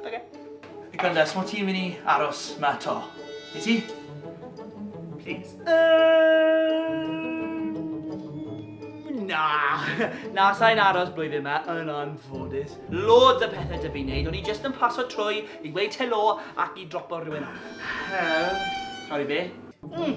Ok. Hey Candace, mo ti'n mynd i aros ma to? I ti? Please. Na, na, sa'n aros blwyddyn yma, yn anffodus. Loads o pethau dydw i'n neud, o'n i just yn paso trwy i weud helo ac i dropo rhywun off. Hel? Sori be? Mm.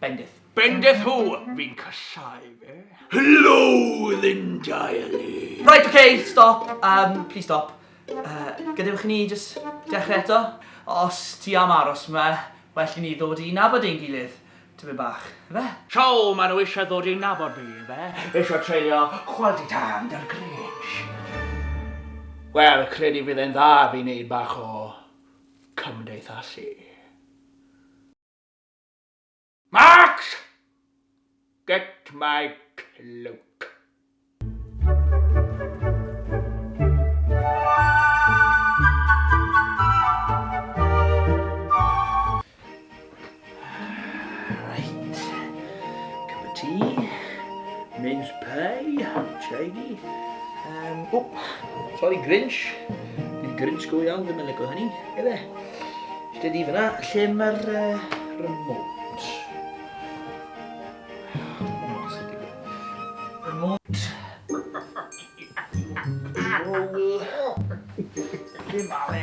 Bendith. Bendith who? Fi'n casáu fe. Helo, Linda Ellis! Right, ok, stop, um, please stop. Uh, gadewch i ni just dechrau eto. Os ti am aros yma, well i ni ddod i nabod ein gilydd. Tyfu bach, efe? So, maen nhw eisiau ddod i nabod fi, efe? Eisiau treulio quality time dy'r Grinch. Wel, credu fydd e'n dda fi wneud bach o cymdeithasu. Max! Get my cloak. mince pie, shiny. Um, oh, sorry, Grinch. Dwi'n Grinch go iawn, ddim yn lygo hynny. Efe. Lle di fyna? Lle mae'r remote? Remote. Lle ma fe?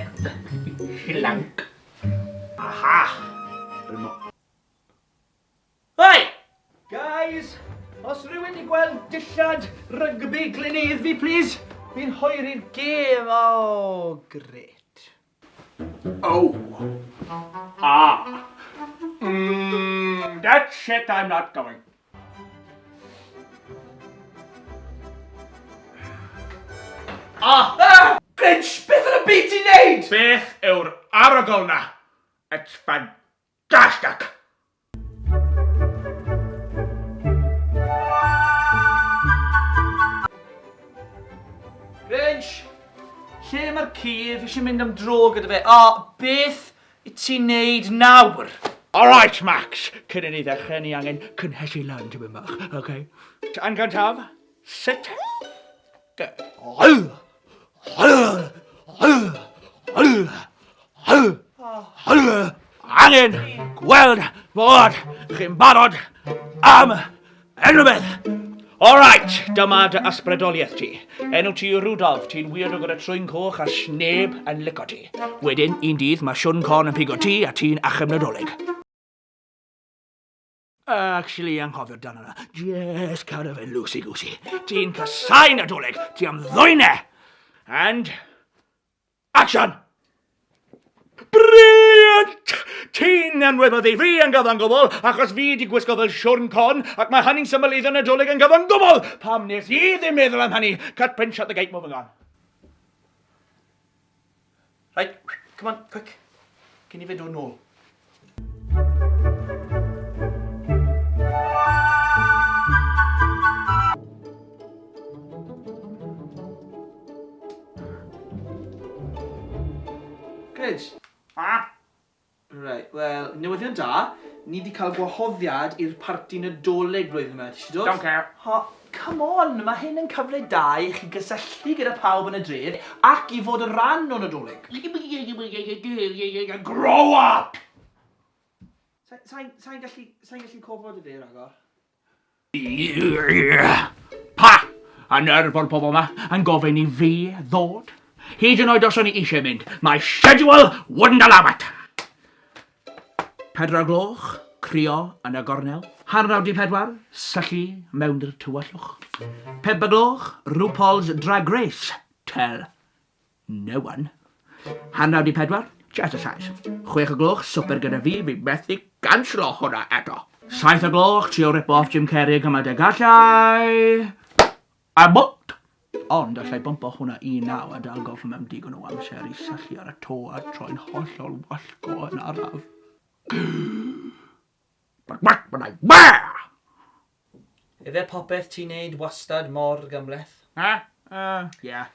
Llanc. Aha! Remote. Hei! Guys, os rhywun di gweld dillad rygbi glineidd fi plis? Fi'n hoeri'r gêm, aww, grêt. Oh. Ah. Mmm, that shit I'm not going. Ah! Ah! Grinch, beth yn y byd ti'n neud? Beth yw'r arogl 'na? It's fan- Dash duck! Grinch! Lle mae'r ci? Fi eisiau mynd am dro gyda fe. O, beth i ti'n neud nawr? Alright, Max! Cyn i ni ddechrau, ni angen cynhesu lan tipyn bach, oce? Angan taf? Sit! Angen gweld bod chi'n barod am unrhyw beth. Alright, dyma dy ysbrydoliaeth ti. Enw ti yw Rudolf, ti'n weird o gyda trwy'n coch a sneb yn lico ti. Wedyn, un dydd, mae Siwn Con yn pigo ti a ti'n achub Nadolig. Actually, anghofio dan yna. Just kind of a loosey-goosey. Ti'n casau Nadolig, ti am ddwyne! And... Action! Brilliant! Ti'n enwedd mae fi yn gyfan gwbl, achos fi di gwisgo fel siwrn con, ac mae hynny'n symboleiddio Nadolig yn gyfan gwbl! Pam nes i ddim meddwl am hynny? Cut, print, shut the gate, moving on. Right, come on, quick. Cyn i fe dod nôl. Gryj? Ah! Reit, wel, newyddion da, ni 'di cael gwahoddiad i'r parti Nadolig flwyddyn yma, ti isie dod? Don't care. O, come on, ma' hyn yn cyfle da i chi gysylltu gyda pawb yn y dref ac i fod yn rhan o Nadolig. Grow up! Sa- sai'n, sai'n gallu, sai'n gallu cofod y fe ragor. Pa hanner ffordd pobl yma yn gofyn i fi ddod? Hyd yn oed os o'n i eisiau mynd, mae schedule wouldn't allow it! Pedwar o'r gloch, crio yn y gornel. Hanner awr 'di pedwar, syllu mewn'r tywyllwch. Pump o'r gloch, RuPaul's Drag Race, tell No one. Hanner awr i pedwar, just a size. Chwech o gloch, swper gyda fi, fi methu canslo hwnna eto. Saith o gloch, trio ripo off Jim Carrey gymaint a gallai. I won't! Ond allai bwmpo hwnna i naw a dal golff mewn digon o amser i syllu ar y to a troi'n hollol wallgo yn araf. Ife popeth ti'n neud wastad mor gymhleth? Na, uh, yeah.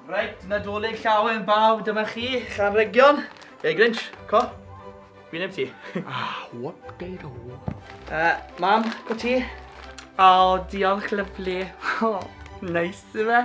Reit, Nadolig Llawen bawb, dyma chi, Llanrhegion. Hey Grinch, co? Fi'n neb ti. Ah, whoop de do. Uh, mam, co ti? Oh, diolch, lyflu. Oh, nice, ife?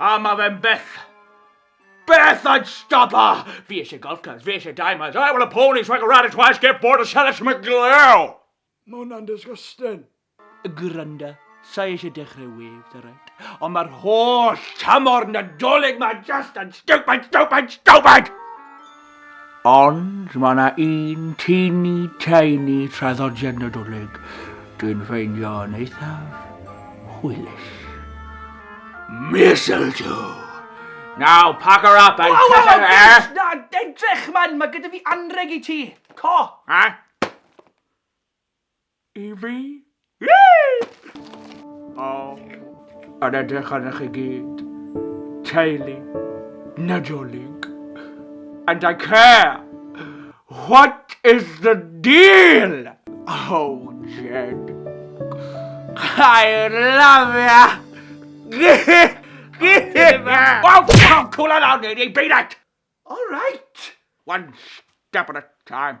A mae fe'n beth. Beth I'd stop her! Ah, fi eisiau golf clubs, fi eisiau diamonds, I want a pony so I can ride it twice, get bored and sell it to my glue! Mae hwnna'n disgusting. Granda, sa'i eisiau dechrau waves, alright? Ond mae'r holl tymor Nadolig ma just yn stupid, stupid, stupid! Ond mae yna un teeny tiny traddodiad Nadolig dwi'n ffeindio yn eithaf hwylus. Mistletoe! Now, pack her up and... Waw, waw, waw, na, edrych man, mae gyda fi anreg i ti. Co! Ha? i fi. O, yn edrych arnoch chi gyd, teulu Nadolig. And I care! What is the deal? Oh, Jed. I love ya! Wow, wow, cool on out, lady, beat it! All right! One step at a time.